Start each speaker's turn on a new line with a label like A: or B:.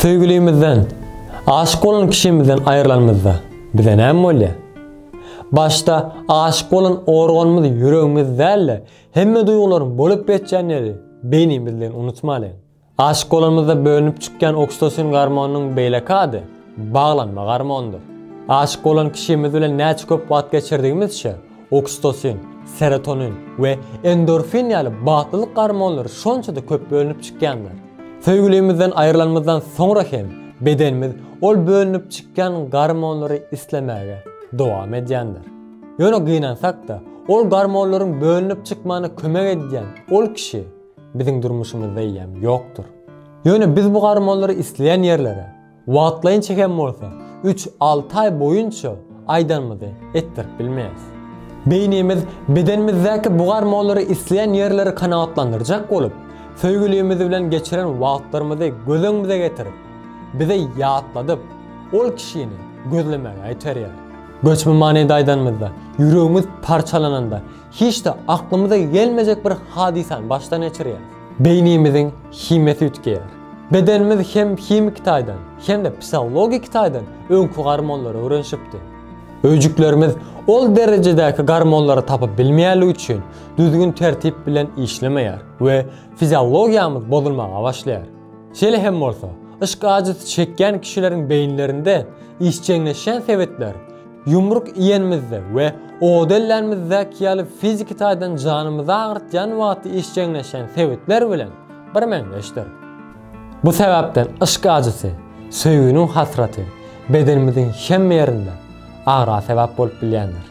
A: Söýgülimizden, aşyk bolan kişimizden aýrylanymyzda bize näme bolýar? Başda aşyk bolan organymyz ýüregimiz däl-de, hemme duýgularyň bolup geçýän ýeri beýnimizdigini unutmalyň. Aşyk bolanymyzda bölünip çykýan oksitosin gormonynyň beýleki ady baglanma gormonydyr. Aşyk bolan kişimiz bilen näçe köp wagt geçirdigimizçe, Oksitosin, serotonin we endorfin ýaly bagtlylyk gormonlary şonça-da köp bölünip çykýandyr. Söýgülimizden aýrylanymyzdan soňra hem bedenimiz ol bölünip çykýan gormonlary islemäge dowam edýändir. Ýöne gynansak-da, ol gormonlaryň bölünip çykmagyna kömek edýän ol kişi biziň durmuşymyzda eýýäm ýokdur. Ýöne biz bu gormonlary isleýän ýerlere, Wagtlaýynça hem bolsa, üç-alty aý boýunça aýdanymyzy etdirip bilmeris. Beýnimiz bedenimizdäki bu garmolary isleýän ýerleri kanagatlandyrjak bolup, söýgülimiz bilen geçiren wagtlarymyzy göz öňümize getirip, bize ýatladyp, ol kişini gözlemäge iterýär. Göçme manyda aýdanymyzda, ýüregimiz parçalananda, Hiç-de aklymyza gelmejek bir hadysany başdan geçirýäris. Beýnimiziň himiýasy üýtgeýär. Bedenimiz hem himiki taýdan, hem-de psihologiki taýdan öňki gormonlara öwrenişipdi. Öýjüklerimiz ol derejedäki gormonlary tapyp bilmeýänligi üçin düzgün-tertip bilen işlemeýär we fiziologiýamyz bozulmaga başlaýar. Şeýle hem bolsa, yşk ajysy çekýän kişileriň beýinlerinde işjeňleşýän sebetler Ýumruk iýenimizde we oda ellänimizdäki ýaly fiziki taýdan janymyzy agyrtýan wagty işjeňleşen sebitler bilen birmeňzeşdir. Bu sebäpden yşk ajysy, söýginiň hasraty bedenimiziň hemme ýerinde agra sebäp bolup bilýändir.